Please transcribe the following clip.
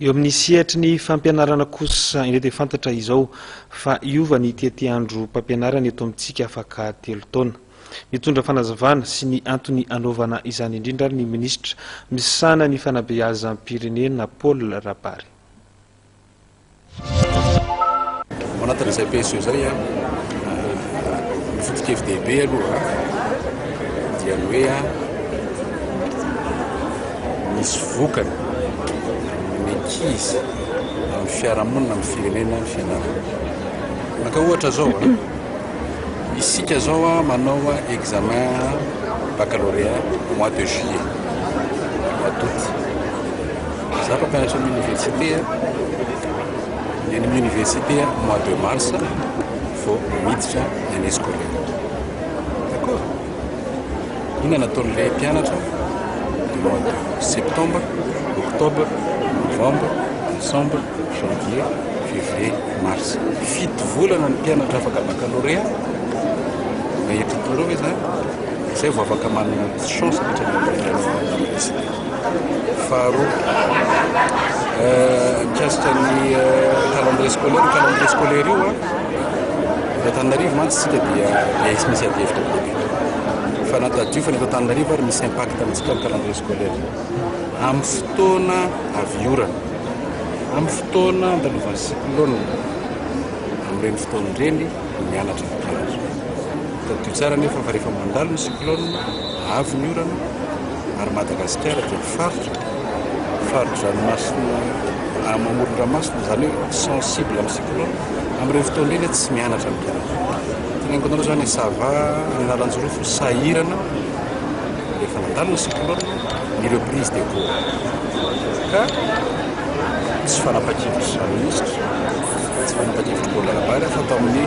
Eo amin'ny sehatry ny fampianarana kosa indray dia fantatra izao fa hiova ny tetiandrom-pampianarana eto amintsika afaka telo taona. Nitondra fanazavana sy ny antony hanaovana izany indrindra ary ny minisitra misahana ny fanabeazam-pirenena Paul Rabary. Ao anatin'izay PSE izay, ny foto-kevi-dehibe aloha dia ny hoe misy vokany ny ankizy amin'ny fiarahamonina amin'ny firenena ny fianarana. Maka ohatra izao, isika izao manao examen baccalauréat mois de juillet, mois d'août. Za mpampianatra amin'ny université a, ny any amin'ny université a mois de mars vao miditra ny année scolaire. D'accord? Inona no ataon'ilay mpianatra du mois de septembre, octobre, novembre, décembre, janvier, février, mars. Fito volana ny mpianatra afaka baccalauréat, na eto Toamasina ve zany? Izay vao afaka manana chance miditra any amin'ny université. Faharoa, mikasika ny calendrier scolaire, io calendrier scolaire io eto Antananarivo mantsy isika dia efa misy adihevitra be dia be. Fa na tadidio fa ny eto Antananarivo ary misy impact amintsika ny calendrier scolaire io. Amin'ny fotoana avy orana, amin'ny fotoana andalovan'ny cyclone, amin'ireny fotoana ireny ny mianatra no mpianatra. Tadidio tsara anefa fa rehefa mandalo ny cyclone, Avo ny orana ary Madagasikara dia faritra fari-dranomasina amoron-dranomasina, izany hoe sensible amin'ny cyclone, amin'ireo fotoana ireny tsy mianatra ny mpianatra. Tena ankoatra izany any ça va, any Analanjirofo sahirana rehefa nandalo ny cyclone ny reprise des cours ka tsy fanapahan-kevitry ny minisitra, tsy fanapahan-kevitry ny board de la base fa tao amin'ny